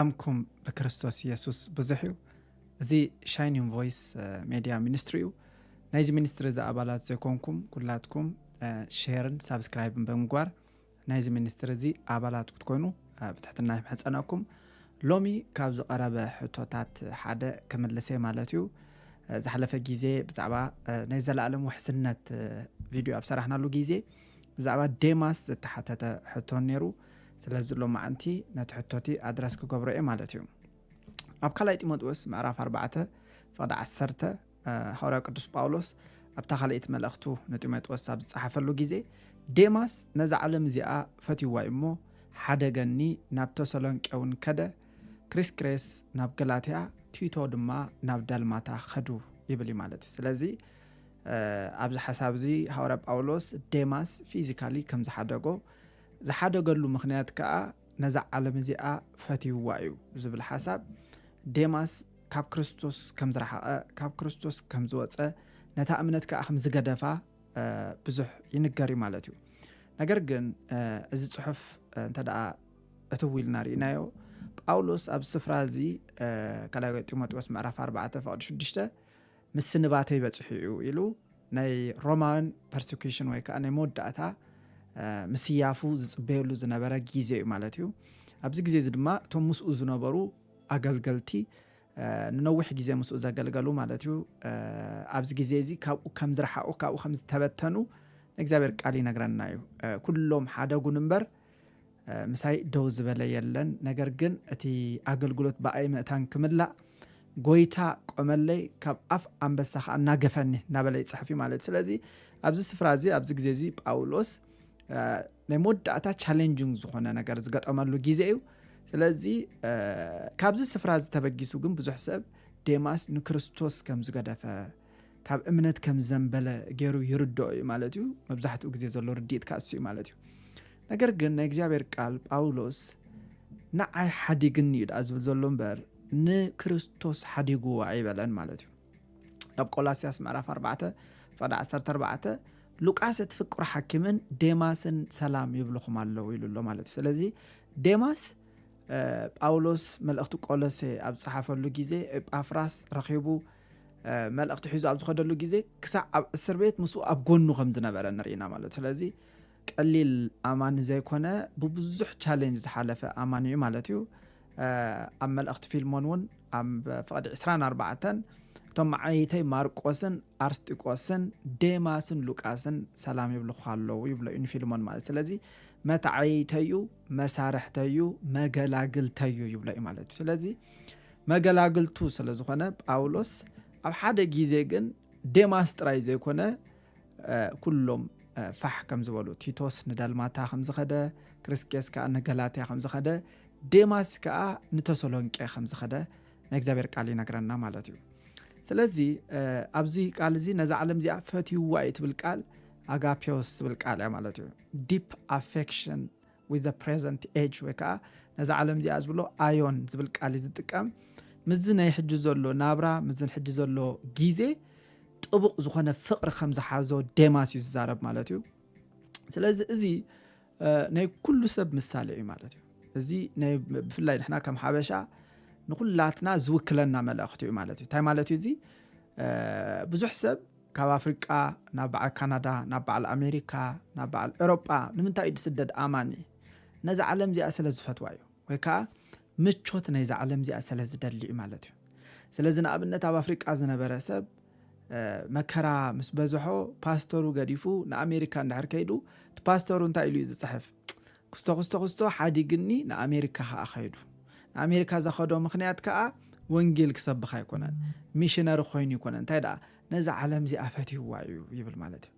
ሰላምኩም ብክርስቶስ የሱስ ብዙሕ እዩ እዚ ሻይኒን ቮይስ ሜድያ ሚኒስትሪ እዩ ናይዚ ሚኒስትሪ እዚ ኣባላት ዘይኮንኩም ኩላትኩም ሸርን ሳብስክራይብን ብምግባር ናይዚ ሚኒስትሪ እዚ ኣባላት ክትኮይኑ ብትሕትና ይምሕፀነኩም ሎሚ ካብ ዝቐረበ ሕቶታት ሓደ ክምልሰ ማለት እዩ ዝሓለፈ ግዜ ብዛዕባ ናይ ዘለኣለም ውሕስነት ቪድዮ ኣብ ሰራሕናሉ ግዜ ብዛዕባ ዴማስ ዝተሓተተ ሕቶ ነይሩ ስለዚ ሎማዕንቲ ነቲ ሕቶቲ ኣድረስ ክገብሮ እየ ማለት እዩ ኣብ ካልኣይ ጢሞጥዎስ ምዕራፍ ኣርባዕተ ፍቕዲ ዓሰርተ ሃዋርያው ቅዱስ ጳውሎስ ኣብታ ካልእት መልእኽቱ ንጢሞጥዎስ ኣብ ዝጸሓፈሉ ግዜ ዴማስ ነዛ ዓለም እዚኣ ፈትይዋ እዩ እሞ ሓደገኒ ናብ ተሰሎንቄ እውን ከደ ክሪስክሬስ ናብ ገላትያ ቲቶ ድማ ናብ ዳልማታ ኸዱ ይብል እዩ ማለት እዩ ስለዚ ኣብዚ ሓሳብ እዚ ሃዋርያ ጳውሎስ ዴማስ ፊዚካሊ ከም ዝሓደጎ ዝሓደገሉ ምክንያት ከኣ ነዛ ዓለም እዚኣ ፈትይዋ እዩ ዝብል ሓሳብ ዴማስ ካብ ክርስቶስ ከም ዝረሓቐ ካብ ክርስቶስ ከም ዝወፀ ነታ እምነት ከዓ ከም ዝገደፋ ብዙሕ ይንገር እዩ ማለት እዩ ነገር ግን እዚ ፅሑፍ እንተ እቲ ዊልና ርኢናዮ ጳውሎስ ኣብ ስፍራ እዚ ካልይ ጢሞቴዎስ ምዕራፍ 4 ፈቅዲ 6 ምስንባተይ በጺሑ እዩ ኢሉ ናይ ሮማውያን ፐርሲኩሽን ወይ ከዓ ናይ መወዳእታ ምስያፉ ዝፅበየሉ ዝነበረ ግዜ እዩ ማለት እዩ ኣብዚ ግዜ እዚ ድማ እቶም ምስኡ ዝነበሩ ኣገልገልቲ ንነዊሕ ግዜ ምስኡ ዘገልገሉ ማለት እዩ ኣብዚ ግዜ እዚ ካብኡ ከም ዝረሓቑ ካብኡ ከም ዝተበተኑ ንእግዚኣብሔር ቃል ይነግረና እዩ ኩሎም ሓደጉን እምበር ምሳይ ደው ዝበለ የለን፣ ነገር ግን እቲ ኣገልግሎት ብኣይ ምእታን ክምላእ ጎይታ ቆመለይ፣ ካብ ኣፍ ኣንበሳ ከዓ እናገፈኒ እናበለ ይፅሕፍ እዩ ማለት እዩ። ስለዚ ኣብዚ ስፍራ እዚ ኣብዚ ግዜ እዚ ጳውሎስ ናይ መወዳእታ ቻሌንጅንግ ዝኾነ ነገር ዝገጠመሉ ግዜ እዩ። ስለዚ ካብዚ ስፍራ እዚ ተበጊሱ ግን ብዙሕ ሰብ ዴማስ ንክርስቶስ ከም ዝገደፈ ካብ እምነት ከም ዝዘንበለ ገይሩ ይርድኦ እዩ ማለት እዩ። መብዛሕትኡ ግዜ ዘሎ ርድኢት ካሱ እዩ ማለት እዩ። ነገር ግን ናይ እግዚኣብሔር ቃል ጳውሎስ ንዓይ ሓዲግኒ እዩ ድኣ ዝብል ዘሎ እምበር ንክርስቶስ ሓዲግዎ ኣይበለን ማለት እዩ። ኣብ ቆላስያስ ምዕራፍ 4 ፈዳ 14 ሉቃስ እቲ ፍቅሩ ሓኪምን ዴማስን ሰላም ይብልኹም ኣለዉ ኢሉ ኣሎ ማለት እዩ። ስለዚ ዴማስ ጳውሎስ መልእኽቲ ቆሎሴ ኣብ ፀሓፈሉ ግዜ ኤጳፍራስ ረኺቡ መልእኽቲ ሒዙ ኣብ ዝኸደሉ ግዜ ክሳዕ ኣብ እስር ቤት ምስኡ ኣብ ጎኑ ከም ዝነበረ ንርኢና ማለት ስለዚ ቀሊል ኣማኒ ዘይኮነ ብብዙሕ ቻሌንጅ ዝሓለፈ ኣማኒ እዩ ማለት እዩ ኣብ መልእኽቲ ፊልሞን እውን ኣብ ፍቕዲ 24 እቶም መዓይተይ ማርቆስን ኣርስጢቆስን ዴማስን ሉቃስን ሰላም ይብልኹ ኣለዉ ይብሎ እዩ ንፊልሞን ማለት ስለዚ መታዓይተዩ መሳርሕተዩ መገላግልተዩ ይብሎ እዩ ማለት እዩ ስለዚ መገላግልቱ ስለ ዝኾነ ጳውሎስ ኣብ ሓደ ግዜ ግን ዴማስ ጥራይ ዘይኮነ ኩሎም ፋሕ ከም ዝበሉ ቲቶስ ንዳልማታ ከም ዝኸደ ክርስኬስ ከዓ ንገላትያ ከም ዝኸደ ዴማስ ከዓ ንተሰሎንቄ ከም ዝኸደ ናይ እግዚኣብሔር ቃል ይነግረና ማለት እዩ ስለዚ ኣብዚ ቃል እዚ ነዛ ዓለም እዚኣ ፈትይዋ እዩ ትብል ቃል ኣጋፔዎስ ትብል ቃል እያ ማለት እዩ ዲፕ ኣፌክሽን with the present age ወይ ከዓ ነዛ ዓለም እዚኣ ዝብሎ ኣዮን ዝብል ቃል እዩ ዝጥቀም ምዚ ናይ ሕጂ ዘሎ ናብራ ምዝን ሕጂ ዘሎ ግዜ ጥቡቕ ዝኾነ ፍቕሪ ከም ዝሓዞ ዴማስ እዩ ዝዛረብ ማለት እዩ ስለዚ እዚ ናይ ኩሉ ሰብ ምሳሌ እዩ ማለት እዩ እዚ ብፍላይ ንሕና ከም ሓበሻ ንኩላትና ዝውክለና መልእኽቲ እዩ ማለት እዩ እንታይ ማለት እዩ እዚ ብዙሕ ሰብ ካብ ኣፍሪቃ ናብ በዓል ካናዳ ናብ በዓል ኣሜሪካ ናብ በዓል ኤሮጳ ንምንታይ እዩ ዝስደድ ኣማኒ ነዛ ዓለም እዚኣ ስለ ዝፈትዋ እዩ ወይ ከዓ ምቾት ናይዛ ዓለም እዚኣ ስለ ዝደሊ እዩ ማለት እዩ ስለዚ ንኣብነት ኣብ ኣፍሪቃ ዝነበረ ሰብ መከራ ምስ በዝሖ ፓስተሩ ገዲፉ ንኣሜሪካ እንድሕር ከይዱ እቲ ፓስተሩ እንታይ ኢሉ እዩ ዝፅሕፍ ኩስቶ ኩስቶ ኩስቶ ሓዲግኒ ንኣሜሪካ ከኣ ከይዱ። ንኣሜሪካ ዘኸዶ ምኽንያት ከኣ ወንጌል ክሰብኽ ኣይኮነን፣ ሚሽነሪ ኮይኑ ኣይኮነን፣ እንታይ ደኣ ነዛ ዓለም እዚኣ ፈትይዋ እዩ ይብል ማለት እዩ።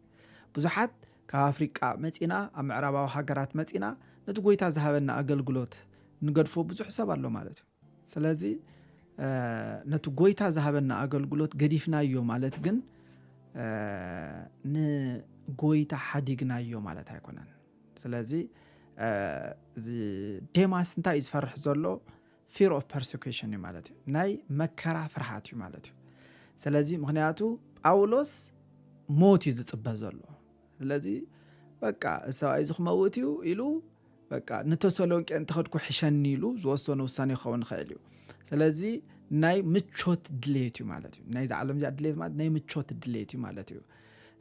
ብዙሓት ካብ ኣፍሪቃ መጺና ኣብ ምዕራባዊ ሃገራት መጺና ነቲ ጎይታ ዝሃበና ኣገልግሎት ንገድፎ ብዙሕ ሰብ ኣሎ ማለት እዩ። ስለዚ ነቲ ጎይታ ዝሃበና ኣገልግሎት ገዲፍናዮ ማለት ግን ንጎይታ ሓዲግናዮ ማለት ኣይኮነን። ስለዚ እዚ ዴማስ እንታይ እዩ ዝፈርሕ ዘሎ ፊር ኦፍ ፐርሴኪሽን እዩ ማለት እዩ ናይ መከራ ፍርሃት እዩ ማለት እዩ ስለዚ ምክንያቱ ጳውሎስ ሞት እዩ ዝፅበ ዘሎ ስለዚ በቃ ሰብኣይ እዚ ክመውት እዩ ኢሉ በቃ ንተሰሎንቄ እንተኸድኩ ሕሸኒ ኢሉ ዝወሰኖ ውሳኔ ክኸውን ይኽእል እዩ ስለዚ ናይ ምቾት ድሌት እዩ ማለት እዩ ናይዚ ዓለም እዚኣ ድሌት ማለት ናይ ምቾት ድሌት እዩ ማለት እዩ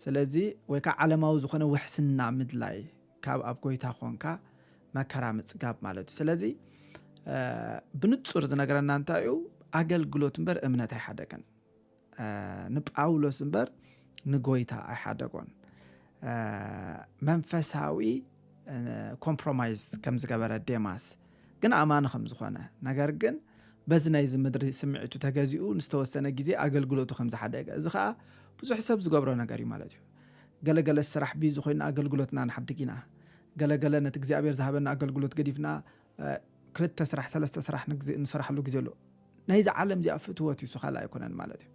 ስለዚ ወይ ከዓ ዓለማዊ ዝኾነ ውሕስና ምድላይ ካብ ኣብ ጎይታ ኮንካ መከራ ምፅጋብ ማለት እዩ ስለዚ ብንፁር ዝነገረና እንታይ እዩ ኣገልግሎት እምበር እምነት ኣይሓደገን ንጳውሎስ እምበር ንጎይታ ኣይሓደጎን መንፈሳዊ ኮምፕሮማይዝ ከም ዝገበረ ዴማስ ግን ኣማኒ ከም ዝኾነ ነገር ግን በዚ ናይዚ ምድሪ ስምዒቱ ተገዚኡ ንዝተወሰነ ግዜ ኣገልግሎቱ ከም ዝሓደገ እዚ ከዓ ብዙሕ ሰብ ዝገብሮ ነገር እዩ ማለት እዩ ገለገለ ስራሕ ቢዚ ኮይና ኣገልግሎትና ንሓድግ ኢና ገለገለ ነቲ እግዚኣብሔር ዝሃበና ኣገልግሎት ገዲፍና ክልተ ስራሕ ሰለስተ ስራሕ ንሰራሕሉ ግዜ ኣሎ ናይዚ ዓለም እዚኣ ፍትወት እዩ ካልእ ኣይኮነን ማለት እዩ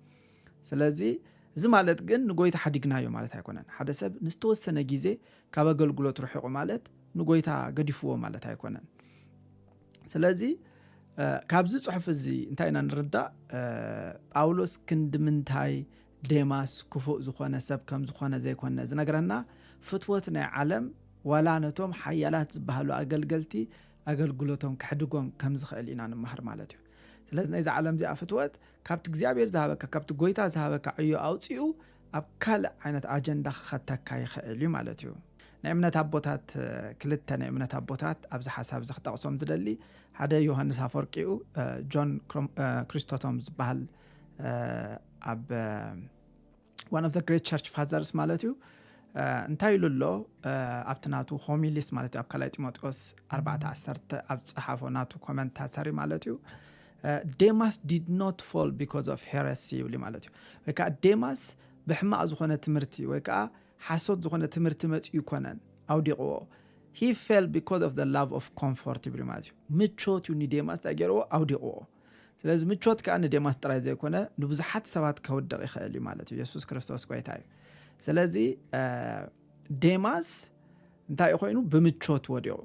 ስለዚ እዚ ማለት ግን ንጎይታ ሓዲግናዮ ማለት ኣይኮነን ሓደ ሰብ ንዝተወሰነ ግዜ ካብ ኣገልግሎት ርሒቑ ማለት ንጎይታ ገዲፍዎ ማለት ኣይኮነን ስለዚ ካብዚ ፅሑፍ እዚ እንታይ ኢና ንርዳእ ጳውሎስ ክንዲ ምንታይ ዴማስ ክፉእ ዝኾነ ሰብ ከም ዝኾነ ዘይኮነ ዝነግረና ፍትወት ናይ ዓለም ዋላ ነቶም ሓያላት ዝበሃሉ ኣገልገልቲ ኣገልግሎቶም ከሕድጎም ከም ዝኽእል ኢና ንመሃር ማለት እዩ። ስለዚ ናይዛ ዓለም እዚኣ ፍትወት ካብቲ እግዚኣብሔር ዝሃበካ ካብቲ ጎይታ ዝሃበካ ዕዮ ኣውጺኡ ኣብ ካልእ ዓይነት ኣጀንዳ ክኸተካ ይኽእል እዩ ማለት እዩ። ናይ እምነት ኣቦታት ክልተ ናይ እምነት ኣቦታት ኣብዚ ሓሳብ እዚ ክጠቕሶም ዝደሊ ሓደ ዮሃንስ ኣፈወርቂኡ ጆን ክሪስቶቶም ዝበሃል ኣብ ዋን ኦፍ ግሬት ቸርች ፋዘርስ ማለት እዩ እንታይ ኢሉ ኣሎ ኣብቲ ናቱ ሆሚሊስ ማለት እዩ ኣብ ካልይ ጢሞቴዎስ 41 ኣብ ፀሓፎ ናቱ ኮመንታተሪ ማለት እዩ ዴማስ ዲድ ኖት ፎል ቢካዝ ኦፍ ሄረሲ ይብሉ ማለት እዩ ወይ ከዓ ዴማስ ብሕማቅ ዝኾነ ትምህርቲ ወይ ከዓ ሓሶት ዝኾነ ትምህርቲ መፅኡ ይኮነን ኣውዲቕዎ ሂ ፌል ቢካዝ ኦፍ ላቭ ኦፍ ኮምፎርት ይብሉ ማለት እዩ ምቾት እዩ ንዴማስ እንታይ ገይርዎ ኣውዲቕዎ ስለዚ ምቾት ከኣ ንዴማስ ጥራይ ዘይኮነ ንብዙሓት ሰባት ከውድቕ ይኽእል እዩ ማለት እዩ የሱስ ክርስቶስ ጎይታ እዩ ስለዚ ዴማስ እንታይ እዩ ኮይኑ ብምቾት ወዲቑ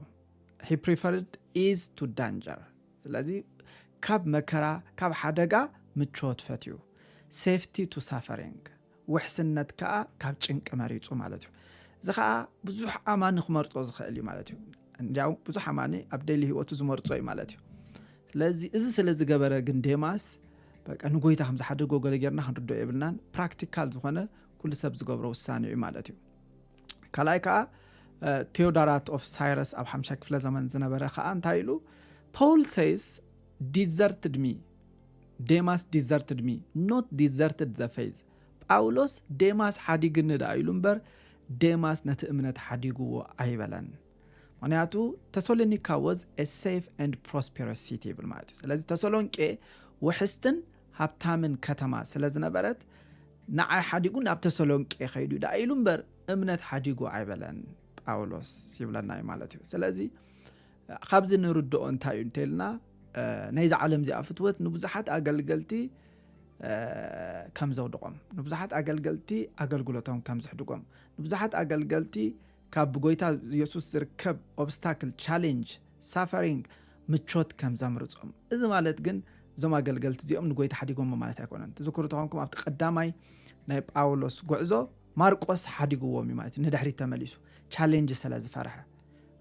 ሂ ፕሪፈርድ ኢዝ ቱ ዳንጀር ስለዚ ካብ መከራ ካብ ሓደጋ ምቾት ፈትዩ ሴፍቲ ቱ ሳፈሪንግ ውሕስነት ከኣ ካብ ጭንቂ መሪጹ ማለት እዩ። እዚ ከኣ ብዙሕ ኣማኒ ክመርጾ ዝኽእል እዩ ማለት እዩ። እንዲያው ብዙሕ ኣማኒ ኣብ ደሊ ህይወቱ ዝመርጾ እዩ ማለት እዩ። ስለዚ እዚ ስለ ዝገበረ ግን ዴማስ በቃ ንጎይታ ከም ዝሓደጎ ገለ ጌርና ክንርድኦ የብልናን ፕራክቲካል ዝኾነ ኩሉ ሰብ ዝገብሮ ውሳኔ እዩ ማለት እዩ ካልኣይ ከዓ ቴዎዳራት ኦፍ ሳይረስ ኣብ ሓምሻይ ክፍለ ዘመን ዝነበረ ከዓ እንታይ ኢሉ ፖል ሰይስ ዲዘርትድ ሚ ዴማስ ዲዘርትድ ሚ ኖት ዲዘርትድ ዘ ፌዝ ጳውሎስ ዴማስ ሓዲግኒ ደኣ ኢሉ እምበር ዴማስ ነቲ እምነት ሓዲግዎ ኣይበለን ምክንያቱ ተሰሎኒካ ወዝ ኤ ሴፍ ኤንድ ፕሮስፔረስ ሲቲ ይብል ማለት እዩ ስለዚ ተሰሎንቄ ውሕስትን ሃብታምን ከተማ ስለ ዝነበረት ንዓይ ሓዲጉ ናብ ተሰሎንቄ ከይዱ እዩ ደኣ ኢሉ እምበር እምነት ሓዲጉ ኣይበለን ጳውሎስ ይብለና እዩ ማለት እዩ ስለዚ ካብዚ ንርድኦ እንታይ እዩ እንተልና ናይዚ ዓለም እዚኣ ፍትወት ንብዙሓት ኣገልገልቲ ከም ዘውድቖም ንብዙሓት ኣገልገልቲ ኣገልግሎቶም ከም ዝሕድጎም ንብዙሓት ኣገልገልቲ ካብ ብጎይታ የሱስ ዝርከብ ኦብስታክል ቻሌንጅ ሳፈሪንግ ምቾት ከም ዘምርፆም እዚ ማለት ግን እዞም ኣገልገልቲ እዚኦም ንጎይታ ሓዲጎሞ ማለት ኣይኮነን ትዝክሩ ተኾንኩም ኣብቲ ቀዳማይ ናይ ጳውሎስ ጉዕዞ ማርቆስ ሓዲግዎም እዩ ማለት እዩ ንድሕሪት ተመሊሱ ቻሌንጅ ስለ ዝፈርሐ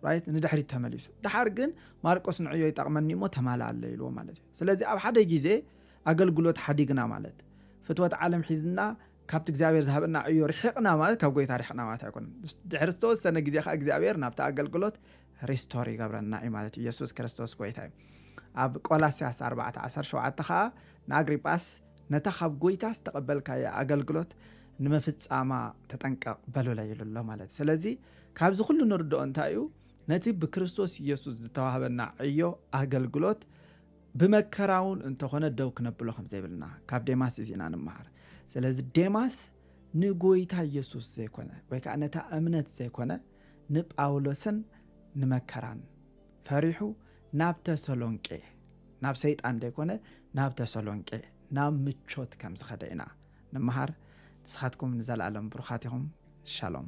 ራይት ንድሕሪት ተመሊሱ ድሓር ግን ማርቆስ ንዕዮ ይጠቕመኒ እሞ ተማላ ኣለ ኢልዎ ማለት እዩ ስለዚ ኣብ ሓደ ግዜ ኣገልግሎት ሓዲግና ማለት ፍትወት ዓለም ሒዝና ካብቲ እግዚኣብሔር ዝሃበና ዕዮ ርሒቕና ማለት ካብ ጎይታ ርሕቕና ማለት ኣይኮነን ድሕሪ ዝተወሰነ ግዜ ከዓ እግዚኣብሔር ናብቲ ኣገልግሎት ሪስቶር ይገብረና እዩ ማለት እዩ የሱስ ክርስቶስ ጎይታ እዩ ኣብ ቆላስያስ 417 ከዓ ንኣግሪጳስ ነታ ካብ ጎይታ ዝተቐበልካየ ኣገልግሎት ንምፍፃማ ተጠንቀቕ በሉለ ኢሉ ኣሎ ማለት ስለዚ ካብዚ ዅሉ እንርድኦ እንታይ እዩ? ነቲ ብክርስቶስ የሱስ ዝተዋህበና ዕዮ ኣገልግሎት ብመከራ እውን እንተ ዀነ ደው ክነብሎ ከም ዘይብልና ካብ ዴማስ እዚ ኢና እንመሃር። ስለዚ ዴማስ ንጐይታ የሱስ ዘይኰነ ወይ ከኣ ነታ እምነት ዘይኰነ ንጳውሎስን ንመከራን ፈሪሑ ናብ ተሰሎንቄ ናብ ሰይጣን ዘይኰነ ናብ ተሰሎንቄ ናብ ምቾት ከም ዝኸደ ኢና ንመሃር ንስኻትኩም ንዘላኣለም ብሩኻት ኢኹም ሻሎም።